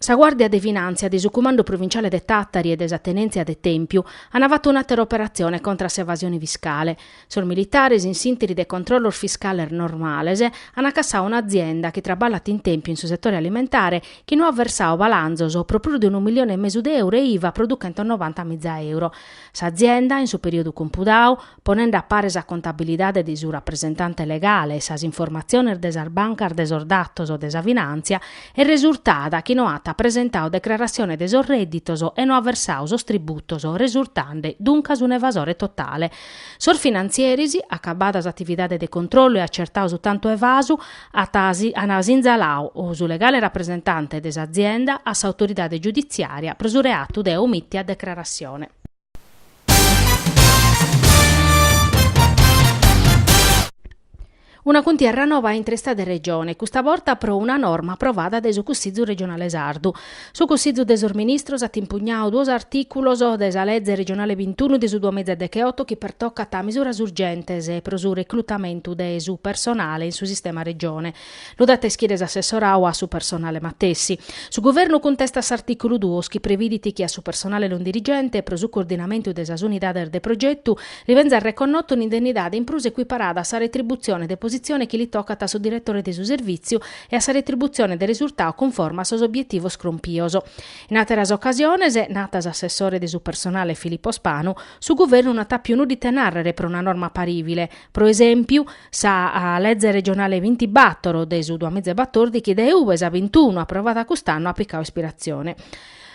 Sa Guàrdia de Finàntzia de su Cumandu Provinciale de Tàtari e de sa Tenèntzia de Tèmpiu ant fatu un'àtera operatzione contra a s'evasione fiscale. Sos militares, in s'ìnteri de controllos fiscales normales, ant cassadu un'azienda chi traballat in Tèmpiu in su setore alimentare chi no at versadu balanzos pro prus de unu milione e mesu de euro e IVA pro duchentos noranta miza euro. S'azienda, in su perìodu compudadu, ponende a pare sa contabilidade de su rapresentante legale e sas informatziones de sas bancas de sos datos de sa finàntzia, est resurtada chi no at presentadu decrarassione de sos rèdditos e no at versadu sos tributos, resurtende duncas un'evasore totale. Sos finantzieris, acabada s'atividade de controllu e acertadu su tantu evasu, ant sinzaladu su legale rapresentante de s'azienda a s'autoridade giuditziària pro su reatu de omìttia decrarassione. Una cuntierra noba intre Istadu e Regione, custa borta pro una norma aprovada dae su Cussizu regionale sardu. Su Cussizu de sos Ministros at impugnadu duos artìculos de sa Leze regionale bintunu de su duamìgia decheoto chi pertocat misuras urgentes pro su reclutamentu de su personale in su sistema Regione. Lu dat a ischire s'assessorau a su personale matessi. Su Guvernu cuntestat s'artìculu duos chi previdit chi a su personale non dirigente, pro su coordinamentu de sas unidades de progetu, li benzat reconnotu un'indennidade in prus equiparada a sa retributzione de positzione chi li tocat a su diretore de su servìtziu e a sa retributzione de resurtau cunforma a sos obietivos crompios. In àteras ocasiones, natat s'assessore de su personale Filippo Spanu, su Guvernu non at àpiu nudda ite nàrrere pro una norma parìvile, pro esèmpiu, Sa Leze Regionale bintibattoro de su duamiza e batòrdighi dae ue sa bintunu aprovada cust'annu at picau ispiratzione.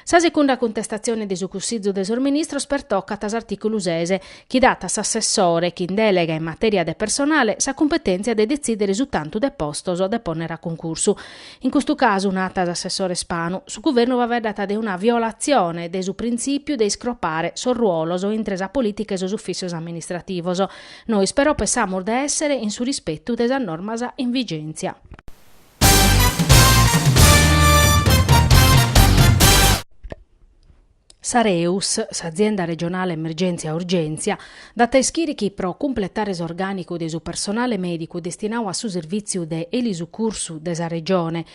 Sa segunda cuntestatzione de su Cussizu de sos Ministros pertocat s'artìculu ses, chi dat a s'assessore chin dèlega in matèria de personale sa cumpetèntzia de detzìdere su tantu de postos de pònnere a cuncursu. In custu casu, natat s'assessore Spanu, su Guvernu faeddat de una violatzione de su printzìpiu de iscropare sos ruolos intre sa polìtica e sos ufìssios amministrativos, Nois però pensamus de èssere in su rispetu de sas normas in vigèntzia. S'Areus, s'Azienda Regionale Emergèntzia Urgèntzia, dat a ischire chi pro cumpletare s'orgànicu de su personale mèdicu destinadu a su servìtziu de elisucursu de sa Regione,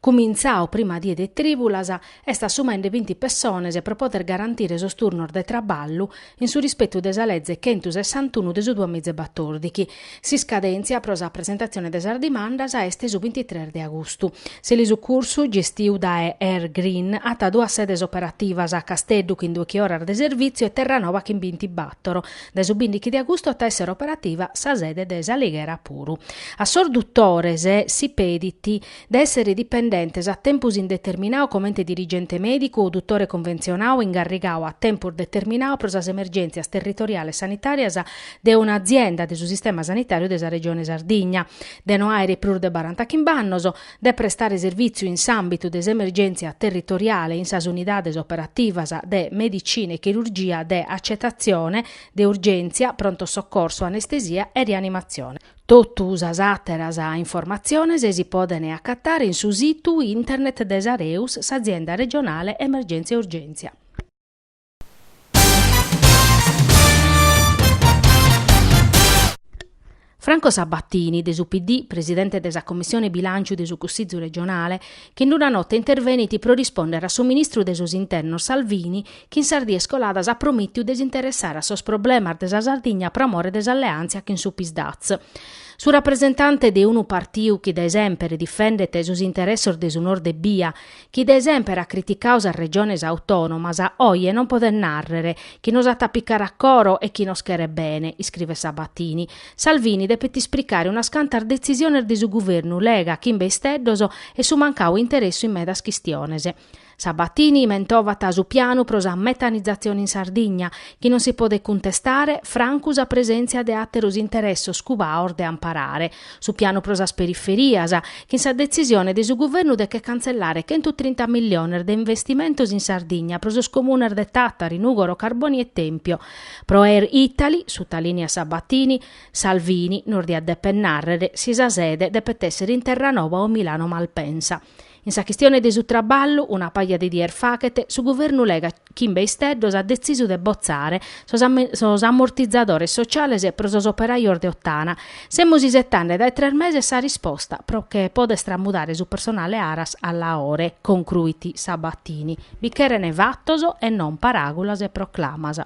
cumintzadu prima die de trìbulas, est assumende binti pessones pro poder garantire sos turnos de traballu in su rispetu de sa Leze centusessantunu de su duas miza e batòrdighi. S'iscadèntzia pro sa presentatzione de sas dimandas est su bintitres de agustu. S'elisucursu, gestiu dae Air Green, at duas sedes operativas, a Casteddu chin duechi oras de servìtziu e Terranova chin bintibattoro. Dae su bindighi de agustu at a èssere operativa sa sede de S'Alighera puru. A sos dutores si pedit de èssere dipendentes a tempus indeterminadu comente dirigente mèdicu o dutore conventzionadu ingarrigadu a tempus determinadu pro sas emergèntzias territoriales sanitàrias de una azienda de su sistema sanitàriu de sa Regione Sardigna, de no àere prus de barantachimbe annos, de prestare servìtziu in s'àmbitu de s'emergèntzia territoriale in sas unidades operativas de medicina e chirurgia de atzetatzione, de urgèntzia, pronto soccorso, anestesia e rianimatzione. Totu sas àteras informatziones si podent acatare in su situ internet de s'Areus, s'azienda regionale Emergentzia e Urgèntzia. Franco Sabatini, de su PD, presidente de sa Commissione Bilànciu de su Cussizu regionale, chi in una nota intervenit pro rispòndere a su ministru de sos Internos Salvini chi in sas dies coladas at promìtidu de s'interessare a sos problemas de sa Sardigna pro amore de s'alleàntzia chin su Psd'Az. Su rapresentante de unu partiu chi dae semper difendet sos interessos de su Nord ebbia, chi dae semper at criticadu sas regiones autònomas, oje non podet nàrrere chi nos at a picare a coro e chi nos cheret bene, iscrivet Sabatini. Salvini depet ispricare unas cantas detzisiones de su guvernu lega chimbe isteddos e su mancadu interessu in medas chistiones. Sabatini mentovat su pianu pro sa metanizatzione in Sardigna, chi non si podet cuntestare, francu sa presèntzia de àteros interessos cubaos de amparare su pianu pro sas periferias, chin sa detzisione de su guvernu de che cantzellare chentu trinta milliones de investimentos in Sardigna pro sos comunes de Tàtari, Nùgoro, Carbònia e Tèmpio. Pro Air Italy, sutalìniat Sabatini, Salvini nos diat dèpere nàrrere si sa sede depet èssere in Terranova o Milano-Malpensa. In sa chistione de su traballu, una paja de dies faghet, su Guvernu Lega chimbe isteddos at detzisu de botzare sos amortizadores sociales pro sos operajos de Ottana. Semus isetande dae tres meses sa risposta pro che poder tramudare su personale Aras a Laore, concruit Sabatini. Bi cheren fatos e non paràgulas e proclamas.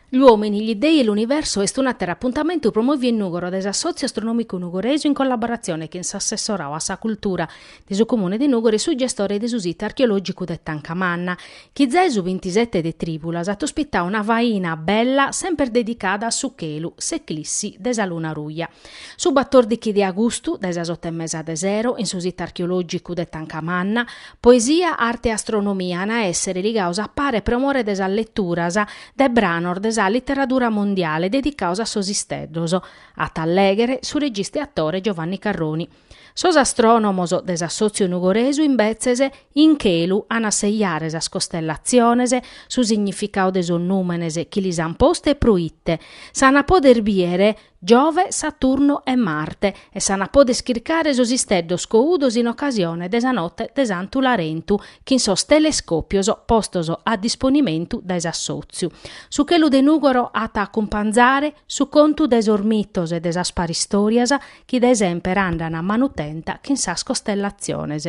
Gli uomini, gli dei e l'universo est un'ateru apuntamentu promoviu in Nugoro dae s'Assotziu Astronomicu Nugoresu in collaboratzione chin s'Assessorau a sa Cultura de su Comune de Nugoro e su gestore de su situ archeologicu de Tancamanna, chi zae su bintisete de Tribulas at ospitau una faina bella semper dedicada a su chelu, s'eclissi de sa luna ruja. Su batordichi de agustu, dae sas oto e mesa de sero, in su Situ Archeològicu de Tancamanna, Poesia, Arte e Astronomia an a èssere ligados a pare pro more de sas leturas de branos de sa literadura mondiale dedicados a sos isteddos, at a lèghere su regista e atore Giovanni Carroni. Sos astrònomos de s'assòtziu nugoresu, imbetzes, in chelu an a sejare sas costellatziones, su significadu de sos nùmenes chi lis an postu e pro ite s'an a pòdere bìdere Giove, Saturnu e Marte, e s'an a pòder chircare sos isteddos coudos in ocasione de sa note de Santu Larentu chin sos telescòpios postos a disponimentu dae s'assòtziu. Su chelu de Nùgoro at a acumpanzare su contu de sos mitos e de sas paristòrias chi dae semper andan a manu tenta chin sas costellatziones.